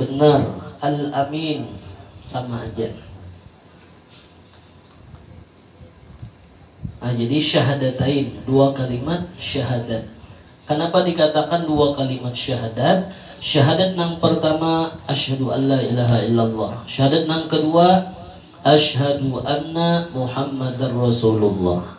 Benar, al amin sama aja. Nah, jadi syahadatain dua kalimat syahadat. Kenapa dikatakan dua kalimat syahadat? Syahadat nang pertama asyhadu alla ilaha illallah. Syahadat nang kedua asyhadu anna Muhammadar Rasulullah.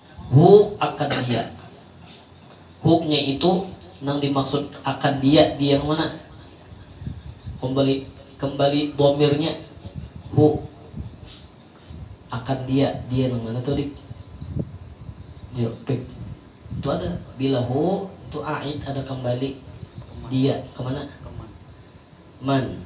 Hu akan dia. Hu nya itu nang dimaksud akan dia di yang mana? Kembali kembali dhamir nya hu akan dia, dia nang mana tu dik? Yu pik tu ada bila hu tu aid ada kembali dia ke mana? Man.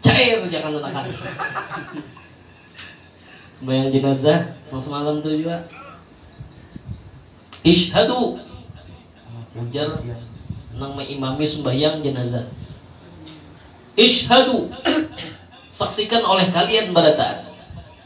Cair ujar kanunakan. Sembahyang jenazah nang semalam tu jua. Isyhadu ujar nang maimami sembahyang jenazah. Isyhadu saksikan oleh kalian barataan.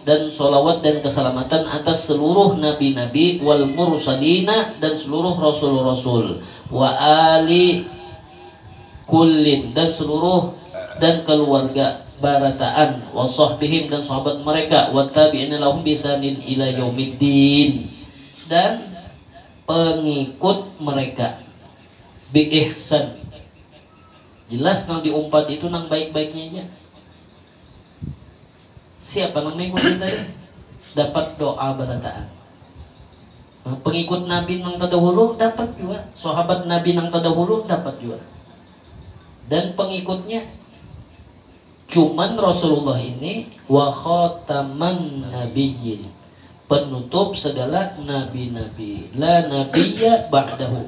Dan shalawat dan kasalamatan atas seluruh nabi-nabi wal mursalina dan seluruh rasul-rasul wa aali kullin dan seluruh dan kaluarga barataan wa shahbihim dan sahabat mereka wat tabiina lahum bi ihsanin ila yaumid din dan pengikut mereka bi ihsan jelas nang di umpat itu nang baik-baiknya ja. Siapa nang mengikut kita nih dapat doa barataan. Nah, pengikut Nabi nang terdahulu dapat juga, sahabat Nabi nang terdahulu dapat juga. Dan pengikutnya cuman Rasulullah ini wa khataman nabiyyin penutup segala nabi-nabi la nabiyya ba'dahu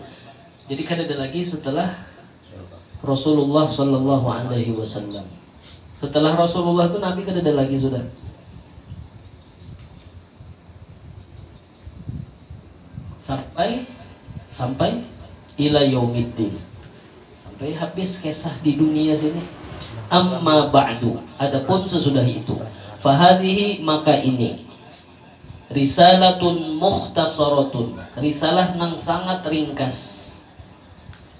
jadi kada ada lagi setelah Rasulullah Shallallahu Alaihi Wasallam. Setelah Rasulullah itu Nabi kada ada lagi sudah. Sampai sampai ila yaumiddin. Sampai habis kisah di dunia sini. Amma ba'du. Adapun sesudah itu. Fahadihi maka ini risalatun mukhtasaratun risalah nang sangat ringkas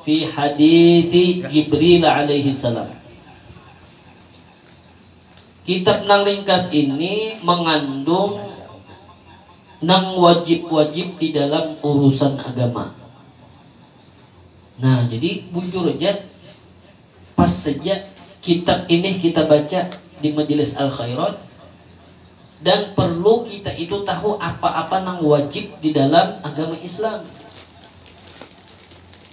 Fi haditsi Jibril alaihi salam. Kitab nang ringkas ini mangandung nang wajib-wajib di dalam urusan agama. Nah, jadi bujur haja. Pas saja kitab inih kita baca di Majelis Al-Khairat dan perlu kita itu tahu apa-apa nang wajib di dalam agama Islam.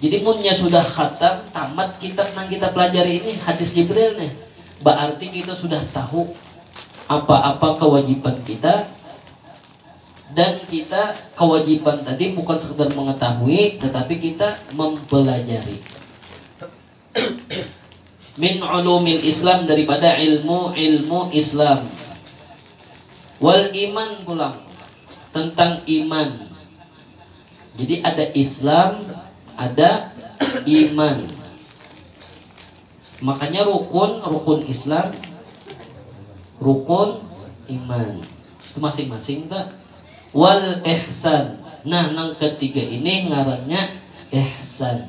Jadi munnya sudah khatam, tamat kitab nang kita pelajari ini, Hadis Jibril nih, baarti kita sudah tahu apa-apa kewajiban kita dan kita kewajiban tadi bukan sekadar mengetahui tetapi kita mempelajari. min ulumil Islam daripada ilmu-ilmu Islam wal iman pulang tentang iman jadi ada Islam ada iman makanya rukun rukun Islam rukun iman itu masing-masing tak wal ihsan nah nang ketiga ini ngarannya ihsan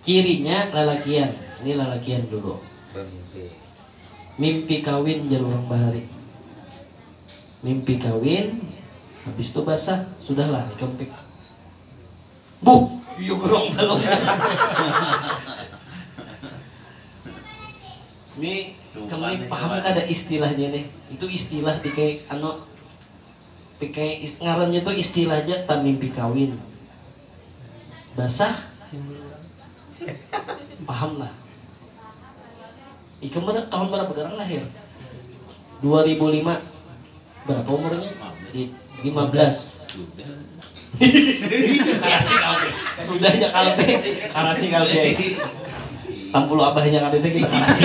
Cirinya lalakian, ini lalakian dulu bamimpi. Mimpi kawin jar urang bahari. Mimpi kawin, habis tu basah, sudahlah ikam pik. Buh, piyu kurang balumnya. Ni ikam ni paham kada istilahnya nih, itu istilah pikai anu pikai ngarannya tu istilah ja tamimpi kawin. Basah simbul urang paham lah ikam tahun berapa garang lahir dua ribu lima berapa umurnya lima belas karasi kalbe sudah ya kalbe karasi kalbe tampulu abahnya kada itu kita karasi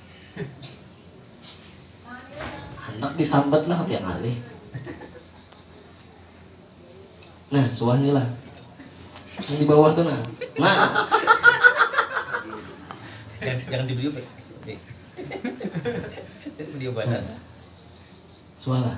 Anak disambat lah tiap hari. Nah, suah nih lah. Yang di bawah tuh nah. Nah. Jangan, jangan di video, Nih. Saya video badan. Nah. Suah lah.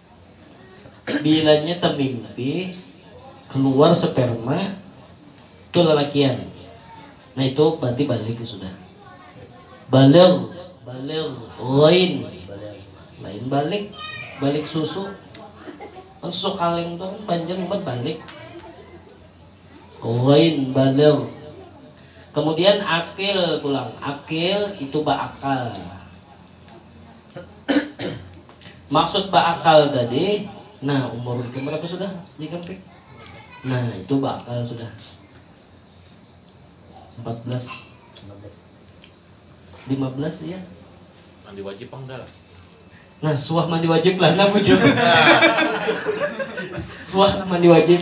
Bilanya tamimpi kaluar sperma tu lalakian nah itu bararti baligh sudah. Baligh, baligh, ghain, lain baligh, baligh susu kan susu kaleng tu kan banjar nyumbat baligh. Ghain, baligh. Kemudian aqil pulang, aqil itu baakal. Maksud beakal tadi, nah umur ikam berapa sudah jika pik? Nah itu beakal sudah. 14 15 ya. Mandi wajib pang dah. Nah, suah mandi wajib lah nah bujur. suah mandi wajib.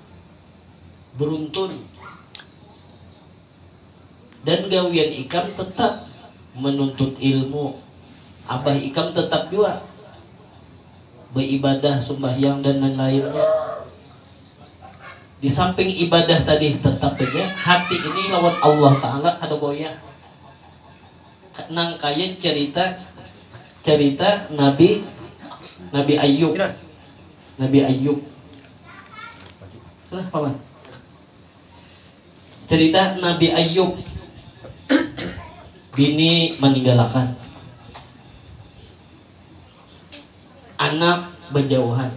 beruntun dan gawian ikam tetap menuntut ilmu abah ikam tetap jua beibadah sumbahyang dan lain-lainnya di samping ibadah tadi tetap haja hati ini lawan Allah taala kada goyah nang kaya cerita cerita nabi nabi ayub. Nabi Ayub. Salah paman. Cerita Nabi Ayub. Bini meninggalkan. Anak berjauhan.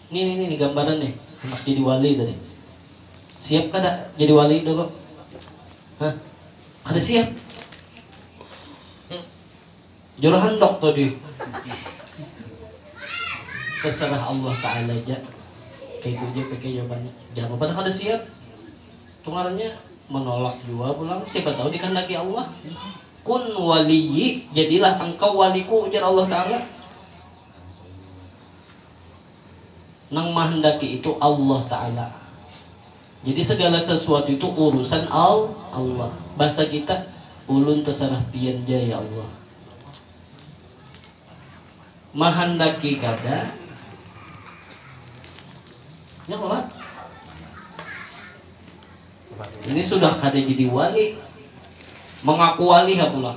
Ini, ini, ini gambaran nih. Anak jadi wali tadi. Siap kada jadi wali dulu? Hah? Kada siap. Jur handok tadi. Terserah Allah Ta'ala aja. Kayak itu aja pakai jawabannya. Jangan pada kada siap. Kemarinnya menolak jua pulang. Siapa tahu dikandaki Allah. Kun waliyi, jadilah engkau waliku, ujar Allah Ta'ala. Nang mahendaki itu Allah Ta'ala. Jadi segala sesuatu itu urusan al Allah. Basa kita, ulun tesarah pian ja ya Allah. Mahandaki kada, ya kalo lah. Ini sudah kada jadi wali, mengaku wali ha pulang.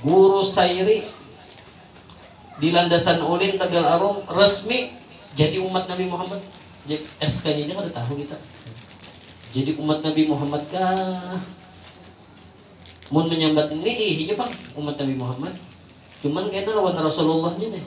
Guru Sairi di landasan ulin Tegal Arum resmi jadi umat Nabi Muhammad. SK-nya aja kada tahu kita. Jadi umat Nabi Muhammad kah? Mun menyambat ini ih aja pang umat Nabi Muhammad. Cuman kena lawan Rasulullahnya deh.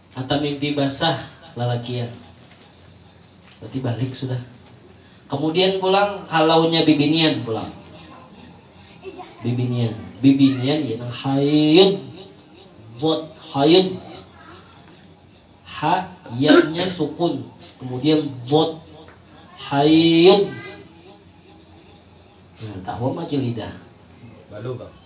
Ata mimpi basah lalakian. Berarti balik sudah. Kemudian pulang kalaunya bibinian pulang. Bibinian. Bibinian ya nang haid. Bot haid. Ha yanya sukun. Kemudian bot haid. Nah, tahwa maji lidah. Balu bang.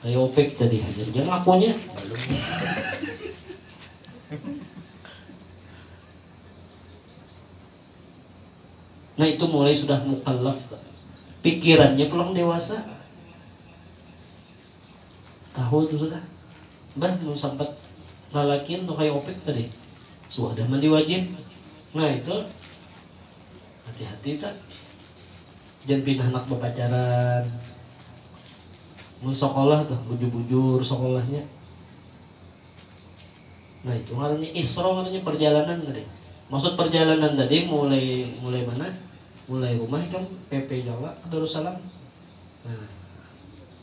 Kayopek tadi hajar jang lakunya. Nah itu mulai sudah mukallaf pikirannya pulang dewasa tahu itu sudah bah mau sempat lalakin tuh kayak opik tadi sudah mandi wajib nah itu hati-hati tak Jan pin handak bapacaran. Mun sokolah tuh bujur-bujur sokolahnya. Nah itu ngarannya isro ngarannya perjalanan tadi. Maksud perjalanan tadi mulai mulai mana? Mulai rumah ikam PP Jawa ke Darussalam. Nah.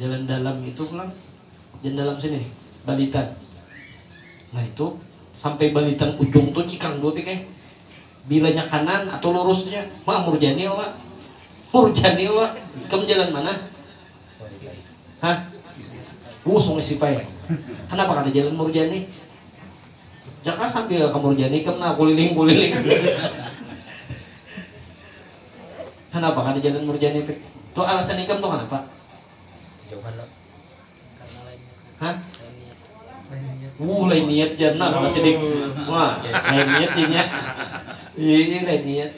Jalan dalam itu pulang, jalan dalam sini, Balitan. Nah itu, sampai Balitan ujung tuh cikang dua pikir. Bilanya kanan atau lurusnya, ma murjani wa, murjani wa, ikam jalan mana? Hah? Uh, sungai Sipai. Kenapa kada jalan murjani? Jaka sambil ke murjani, ikam nah kuliling-kuliling. Kanapa kada jalan murjani teh? Tu alasan ikam tu kanapa? Jauhan lah. Karena lain niat. Hah? Lain niat. Wuh lain niat jar nah kalau sidik. Wah, lain niat ya nya. Iya, lain niat.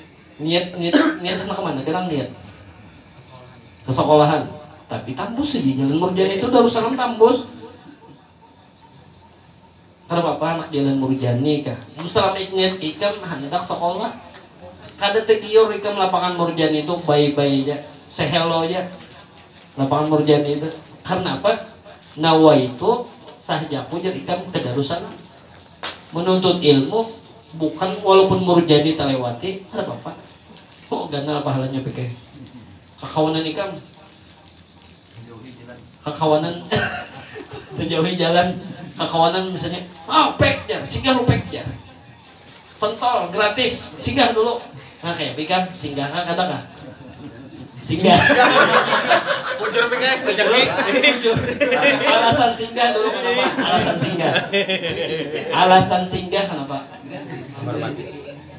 Niat niat niat anak kemana? Gerang niat. Kesekolahan. Tapi tambus saja jalan murjani itu darussalam tambus. Kada papa anak jalan murjani kah. Selama ingat ikam handak sekolah. Kada tegiur ikam lapangan murjani tu bye bye ja. Se hello ja. Lapangan murjani tu. Karena apa? Nawaitu sahjaku jar ikam ke darussalam. Menuntut ilmu bukan walaupun murjani telewati kada papa. Ho ganal pahalanya pike. Kakawanan ikam. kakawanan menjauhi jalan kakawanan misalnya ah pek jar singgah lu pek jar pentol gratis singgah dulu nah kayak pikan singgah kan kata kah singgah bujur pikan rezeki alasan singgah dulu kenapa alasan singgah alasan singgah kenapa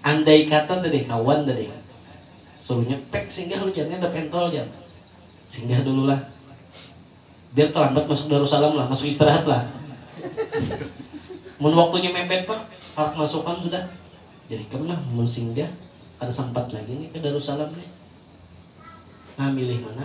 Andai kata tadi kawan tadi suruhnya pek singgah lu jar ni ada pentol jar singgah dulu lah biar terlambat masuk darusalam lah masuk istirahat lah mun waktunya mepet pak parak masukan sudah jadi ikam nah mun singgah kada sempat lagi ni ke darusalam ni nah milih mana.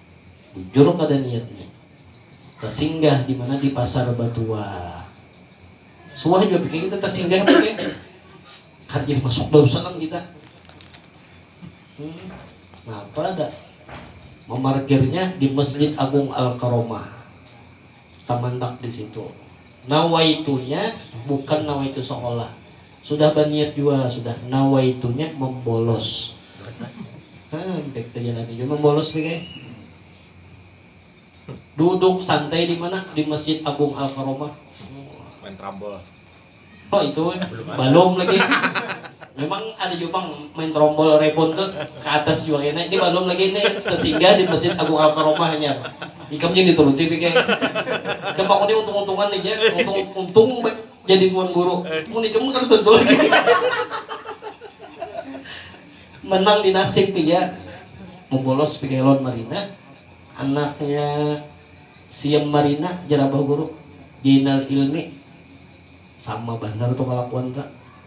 Bujur kada niatnya. Tasinggah di mana di pasar batua. Suah jua pikir kita tasinggah apa kaya. Kada jadi masuk Darussalam kita. Napa ada mamarkirnya di Masjid Agung Al Karomah. Tamandak di situ. Nawaitunya bukan nawaitu sekolah. Sudah baniat jua sudah nawaitunya membolos hampek tajalani jua membolos nih kaya duduk santai di mana di masjid Agung Al Karomah main trambol oh itu belum, belum lagi memang ada juga bang main trombol rebon tuh ke atas juga kena ini belum lagi ini tersinggah di masjid Agung Al Karomah hanya ikamnya dituruti pikir kayak kemakanya untung-untungan aja untung untung Jadi tuan guru. Mun ikam mah kada tentu lagi. Menang di nasib tu ja. Mubolos pikai lawan Marina. Anaknya Siam Marina jar abah guru. Jainal Ilmi. Sama banar tu kalakuan tu.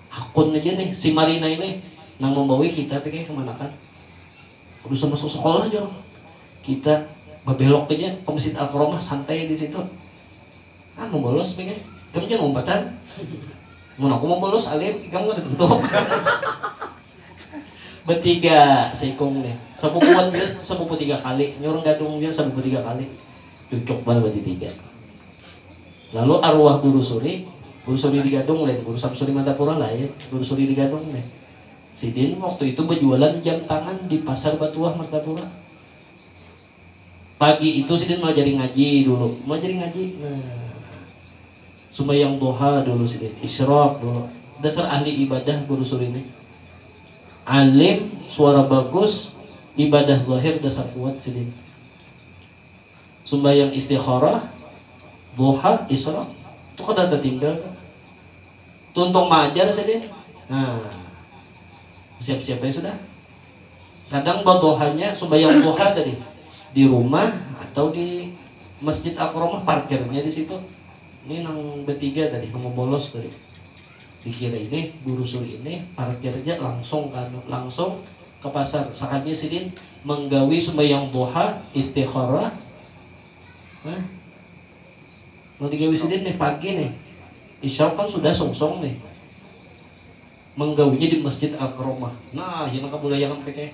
Hakun aja nih si Marina ini nang mambawi kita pikai kemanakan. Udah sudah masuk sekolah jar. Kita babelok aja ke Masjid Al-Karomah santai di situ. Am mau bolos pina, ikam jangan umpatan. Mun aku mau bolos alim, ikam kada tentu. Betiga seikung nih, sabubuan jua sabubu tiga kali, nya urang gadung jua sabubu tiga kali, cucuk banar batitiga. Lalu aruwah Guru Suri, Guru Suri di Gadung lain, Guru Samsuri Madapura lain, Guru Suri di Gadung nih. Sidin waktu itu bajualan jam tangan di Pasar Batuah Martapura. Pagi itu sidin maajari ngaji dulu, maajari ngaji nah. Sumbayang duha dulu sidin, isyraq dulu. Dasar ahli ibadah guru suri nih. Alim, suara bagus, ibadah zahir dasar kuat sidin. Sumbayang istikharah, duha, isyraq, tu kada tatinggal tu. Tuntung maajar sidin, nah. Basiap-siap ai sudah. Kadang baduhanya sumbayang duha tadi di rumah atau di masjid akromah parkirnya di situ ni nang betiga tadi nang babolos tadi di kiri ini burusur ini parkir ja langsung ka anu langsung ka pasar sakalinya sidin manggawi sumbayang duha istikharah nah nang digawi sidin nih pagi nih isyrok kan sudah sungsung nih. Manggawinya di Masjid Al-Karomah. Nah, ya nang kabulayangan PK.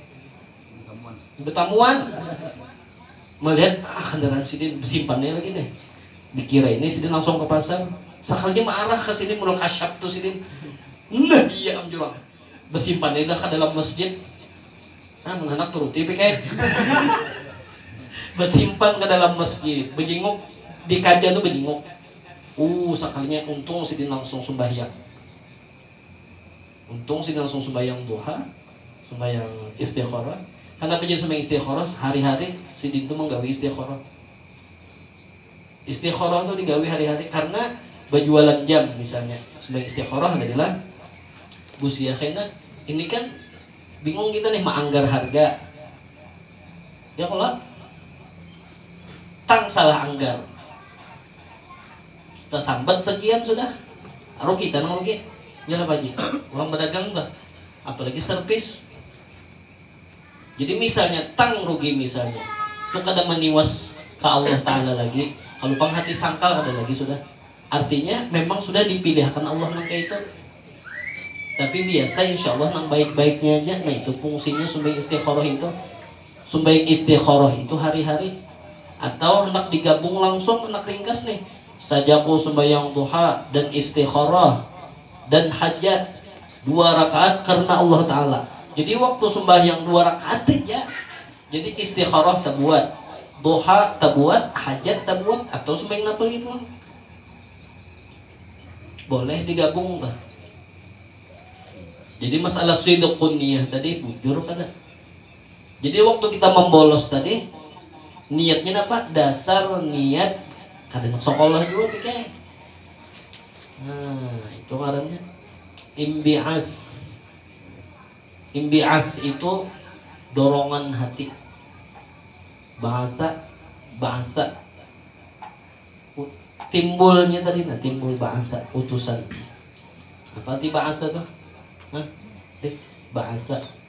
Betamuan. Malihat, ah kandaraan sidin, besimpan ai lagi nih. Dikira ini sidin langsung ka pasar. Sakalinya maarah ka sini, modal kasyap tu sidin. Nah, iya am jua. Besimpan ai dah ka dalam masjid. Nah, mun handak turuti PK. Besimpan ka dalam masjid. Bejinguk, di kaja tu bejinguk. Uh, sakalinya untung sidin langsung sumbahyang. Untung sini langsung sumbayang duha, sumbayang istikharah. Kanapa jadi sumbayang istikharah? Hari-hari sidin tu manggawi istikharah. Istikharah tu digawi hari-hari karena bajualan jam misalnya. Sumbayang istikharah jadilah busia kena. Ini kan bingung kita nih maanggar harga. Ya kalo? Tang salah anggar. Tasambat sakian sudah rugi ta nang rugi ya kah Pak Haji urang badagang tuh apalagi servis jadi misalnya tang rugi misalnya tu kada maniwas ka Allah taala lagi kalu pang hati sangkal kada lagi sudah artinya memang sudah dipilih akan Allah nang kaya itu tapi biasa insya Allah nang baik-baiknya haja nah itu pungsinya sumbing istikharoh itu. Sumbahyang istikharah itu hari-hari atau handak digabung langsung handak ringkas nih sajaku sumbahyang duha dan istikharah dan hajat dua rakaat karna Allah taala jadi waktu sumbahyang dua rakaat haja jadi istikharah tabuat duha tabuat hajat tabuat atau sumbahyang napa lagi pulang boleh digabung tuh jadi masalah sidqun niyah tadi bujur kada. Jadi waktu kita membolos tadi niatnya napa? Dasar niat kada nak sekolah jua ti kay. Nah, itu ngarannya imbi'as. Imbi'as itu dorongan hati. Bahasa bahasa timbulnya tadi nah timbul bahasa utusan. Apa ti bahasa tuh? Hah? Bahasa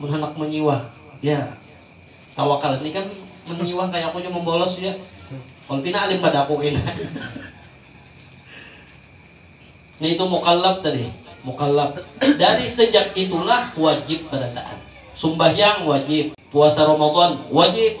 Mun handak manyiwah ya tawakal ini kan manyiwah kaya aku jua mambolos jua walaupun pina alim pada aku kena nah itu mukallaf tadi mukallaf dari sejak itulah wajib barataan sumbahyang wajib puasa ramadan wajib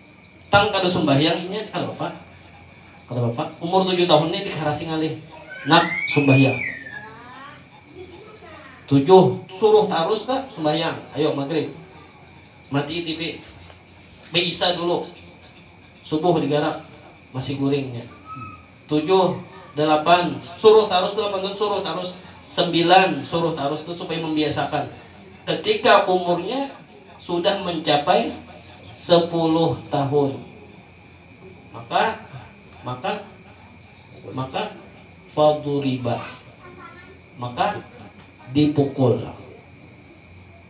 Pang kada sumbahyang inya kata bapak, kata bapak umur tujuh tahun nih dikarasi ngalih, nak sumbahyang tujuh suruh tarus ta sumbahyang ayo magrib matii tipi baisa dulu subuh digarap masih guring inya. Tujuh, dalapan, suruh tarus dalapan tahun suruh tarus, sembilan, suruh tarus itu supaya membiasakan ketika umurnya sudah mencapai sepuluh tahun maka maka maka faduriba maka dipukul.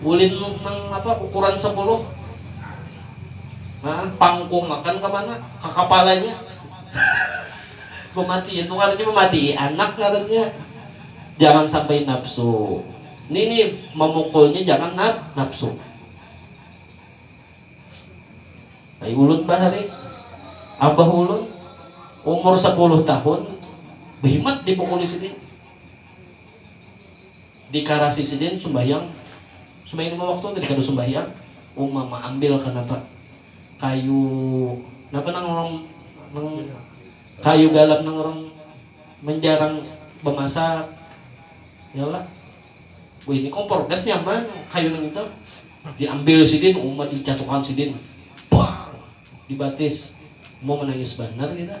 Ulin nang apa ukuran sapuluh nah pangkung akan kamana ka kapalanya mamatii itu ngarannya mamatii anak ngarannya jangan sampai nafsu ini nih memukulnya jangan naf nafsu Ay ulun bahari abah ulun umur 10 tahun behimat dipukuli sini Di karasi sidin sumbahyang, sumbahyang lima waktu tadi kada sumbahyang, uma ma ambil ka napa kayu napa nang orang nang kayu galap nang orang manjarang bamasak ya lah wih ini kompor gas nyaman kayu nang itu di ambil sidin uma di catuk akan sidin bang di batis uma manangis banar kita.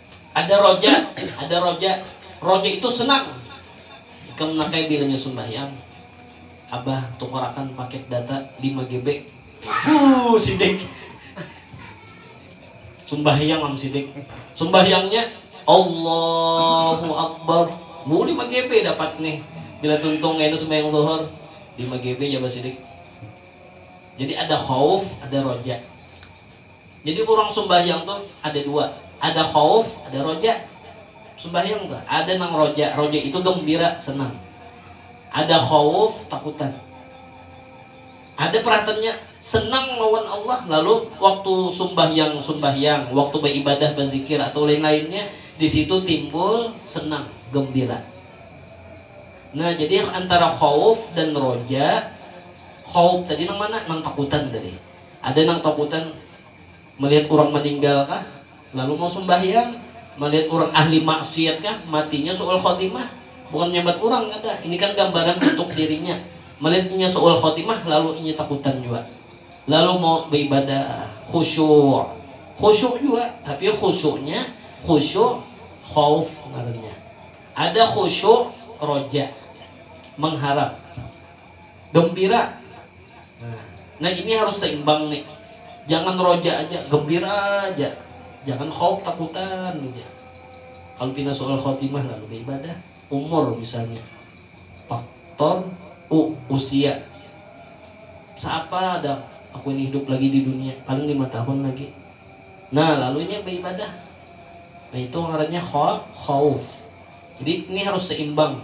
Ada roja, ada roja. Roja itu senang. Ikam nak kaya bilanya sumbahyang. Abah tukarakan paket data lima GB. Huh sidik. Sumbahyang am sidik. Sumbahyangnya Allahu Akbar. Huh lima GB dapat nih. Bila tuntung kainu sumbahyang Dhuhr. Lima GB jaba sidik. Jadi ada khauf, ada roja. Jadi urang sumbahyang tu ada dua, ada khauf, ada roja. Sumbahyang tu ada nang roja, roja itu gembira, senang. Ada khauf, takutan. Ada peratannya senang lawan Allah lalu waktu sumbahyang sumbahyang, waktu baibadah, bazikir atau lain-lainnya di situ timbul senang, gembira. Nah, jadi antara khauf dan roja, khauf tadi nang mana? Nang takutan tadi. Ada nang takutan melihat urang meninggal kah lalu mau sumbahyang, melihat urang ahli maksiat kah matinya su'ul khotimah, bukan menyambat urang kada, ini kan gambaran untuk dirinya, melihat inya su'ul khotimah lalu inya takutan jua, lalu mau beibadah khusyuk, khusyuk jua tapi khusyuknya khusyuk khauf ngarannya, ada khusyuk roja, mengharap, gembira. Nah ini harus seimbang ni, jangan roja aja, gembira aja, jangan khauf, takutan aja. Kalu pina su'ul khotimah lalu beibadah. Umur misalnya, faktor u usia, seapa dang aku ini hidup lagi di dunia, paling lima tahun lagi. Nah lalu inya beibadah, nah itu ngarannya kha khauf. Jadi ini harus seimbang.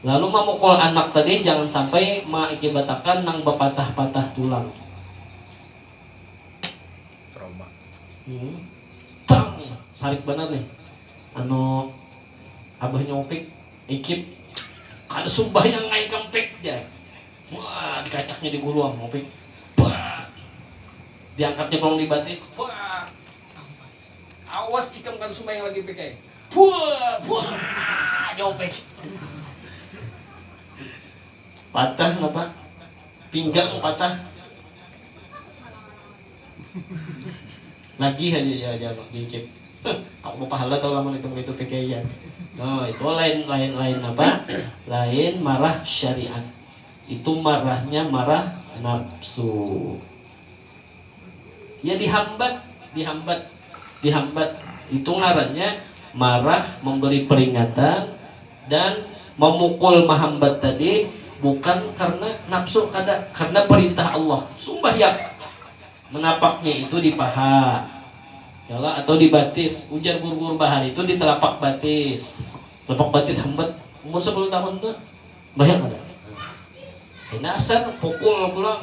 Lalu mamukul anak tadi jangan sampai maakibatakan nang bapatah-patah tulang. Tang! Sarik banar nih anu abahnya Upik, Ikip. Kada sumbahyang ngai ikam Pik, jar. Wah, dikacaknya di gulu am Upik. Bak! Diangkatnya pulang di batis. Bak! Awas ikam kada sumbayang lagi pik ai. Puuh puuhh jauh pik. Patah napa? Pinggang patah. Nagih haja jar jar Mang Cicit. Huh aku bapahala tahu lamun ikam kaitu pik ai jar. Huh itu lain lain lain napa? Lain marah syariat. Itu marahnya marah nafsu. Ya dihambat, dihambat, dihambat itu ngarannya marah, memberi peringatan dan memukul mahambat tadi bukan karena napsu kada, karena perintah Allah. Sumbahyang menapaknya itu di paha ya kah atau di batis, ujar guru guru bahari itu di telapak batis, telapak batis hambat umur sapuluh tahun tu sumbahyang kada. Kena asar pukul pulang.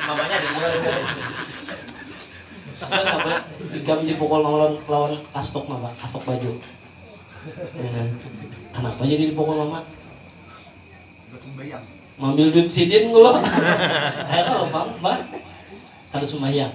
Mamanya ada dua ini. Ikam dipukul mama lawan kastuk mama, kastuk baju. Kanapa jadi dipukul mama? Buat sumbayang. Mambil duit sidin kulo. Ayo kalau pam, bah. Kada sumbayang.